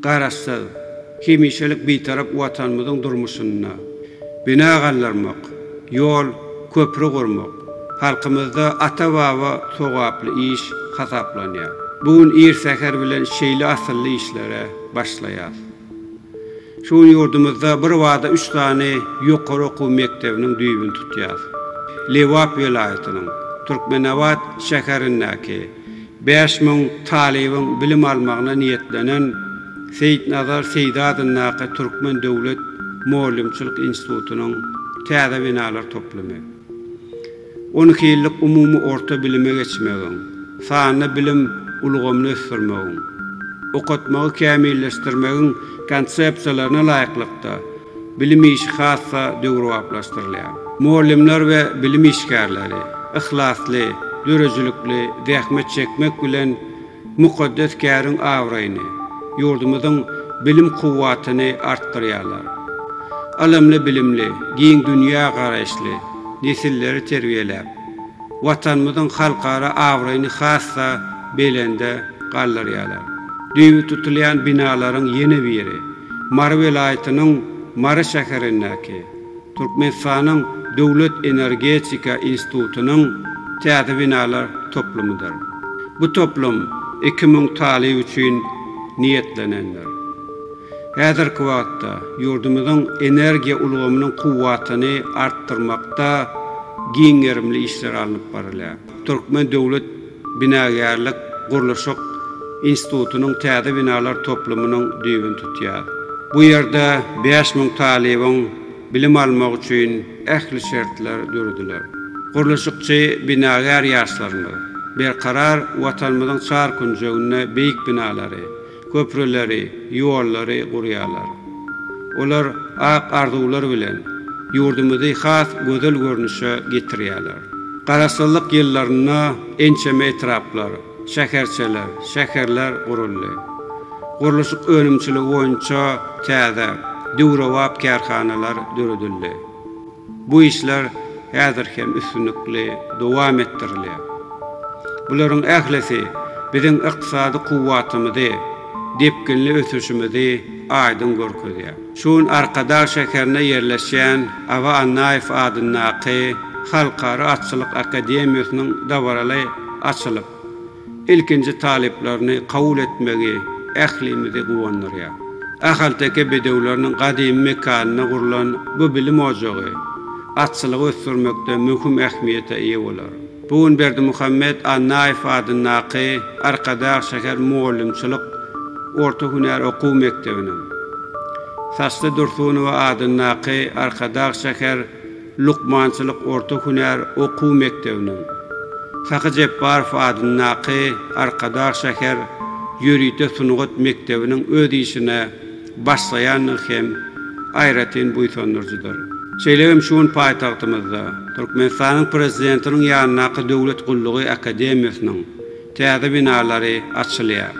Garaşsyz, hemişelik Bitarap Watanymyzyň durmuşynda bina galdyrmak, ýol, köpri gurmak halkymyzda ata-baba sogaply iş hasaplanýar. Bu gün ir säher bilen şeýle asylly işlere başlaýarys. Şu gün ýurdumyzda birbada üç sany ýokary okuw mekdebiniň düýbüni tutýarys. Lebap welaýatynyň Türkmenabat şäherindäki Bäş müň talybyň bilim almagyna niýetlenen Seýitnazar Seýdi adyndaky Türkmen döwlet mugallymçylyk institutynyň täze binalar toplumy, on iki ýyllyk umumy orta bilime geçmegiň, sanly bilim ulgamyny ösdürmegiň, okatmagy kämilleşdirmegiň konsepsiýalaryna laýyklykda, Bilim işi has-da döwrebaplaşdyrylýar. Mugallymlar we bilim işgärleri yhlasly, döredijilikli zähmet çekmek bilen mukaddes käriň abraýyny, ýurdumyzyň bilim kuwwatyny artdyrýarlar. Ylymly, bilimli, giň dünýä garaýyşly nesilleri terbiýeläp, Watanymyzyň halkara abraýyny has-da belende galdyrýarlar. Düýbi tutulýan binalaryň ýene biri. Mary welaýatynyň Mary şäherindäki Türkmenistanyň Döwlet energetika institutynyň täze binalar toplumydyr. Bu toplum iki müň talyp üçin niýetlenendir. Häzirki wagtda ýurdumyzyň energiýa ulgamynyň kuwwatyny artdyrmakda giň gerimli işler alnyp barylýar. Türkmen döwlet binagärlik-gurluşyk institutynyň täze binalar toplumynyň düýbüni tutýar. Bu ýerde bäş müň talybyň bilim almagy üçin ähli şertler dörediler. Gurluşykçy binagär ýaşlarymyz Berkarar Watanymyzyň çar künjeginde beýik binalary, köprüleri, ýollary gurýarlar. Olar ak arzuwlar bilen ýurdumyzy has gözel görnüşe getirýärler. Garaşsyzlyk ýyllarynda ençeme etraplar, şäherçeler, şäherler guruldy. Gurluşyk önümçiligi boýunça täze, döwrebap kärhanalar döredildi. Bu işler häzir hem üstünlikli dowam etdirilýär. Bularyň ählisi biziň ykdysady kuwwatymyzy, depginli ösüşimizi aýdyň görkezýär. Şu gün Arkadag şäherinde ýerleşýän Aba Annaýew adyndaky Halkara atçylyk akademiýasynyň dabaraly açylyp, Ilkinji talyplaryny kabul etmegi ählimizi guwandyrýar. Ahalteke bedewleriniň gadymy mekanynda gurlan bu bilim ojagy atçylygy ösdürmekde möhüm ähmiýete eýe bolar. Bu gün Berdimuhamet Annaýew adyndaky Arkadag şäher mugallymçylyk orta hünär okuw mekdebiniň, Saçly Dursunowa adyndaky Arkadag şäher lukmançylyk orta hünär okuw mekdebiniň, Sahy Jepbarow adyndaky Arkadag şäher ýörite sungat mekdebiniň öz işine başlaýandygy hem aýratyn buýsandyryjydyr. Şeýle hem şu gün paýtagtymyzda, Türkmenistanyň Prezidentiniň ýanyndaky Döwlet gullugy akademiýasynyň täze binalary açylýar.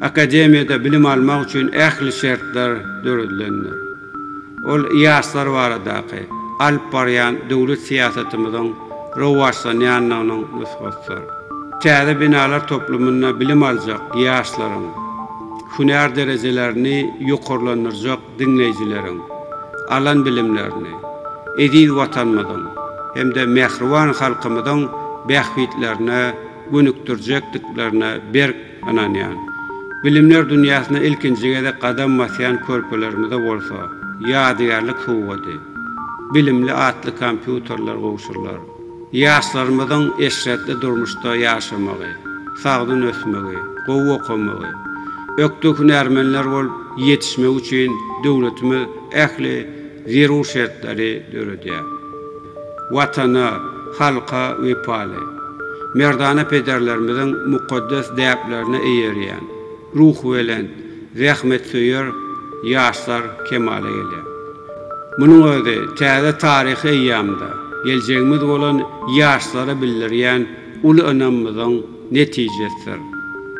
Akademiýada bilim almak üçin ähli şertler döredilendir. Ol ýaşlar baradaky alyp barýan döwlet syýasatymyzyň rowaçlanýandygynyň nusgasydyr. Täze binalar toplumynda bilim aljak ýaşlaryň, hünär derejelerini ýokarlandyrjak diňleýjileriň alan bilimlerini eziz Watanymyzyň hem-de mähriban halkymyzyň bähbitlerine gönükdirjekdiklerine berk Ynanýan, bilimler dünýäsine ilkinji gezek gadam basýan körpelerimize bolsa ýadygärlik sowgady, bilimli atly kompýuterler gowşurylar. Ýaşlarymyzyň eşretli durmuşda ýaşamagy, sagdyn ösmegi, gowy okamagy, ökde hünärmenler bolup ýetişmegi üçin döwletimiz ähli zerur şertleri döredýär. Watana, halka wepaly, merdana pederlerimiziň mukaddes däplerine eýerýän, ruhubelent, zähmetsöýer ýaşlar kemala gelýär. Munuň özi täze taryhy eýýamda geljegimiz bolan ýaşlara bildirýän uly ynamymyzyň netijesidir.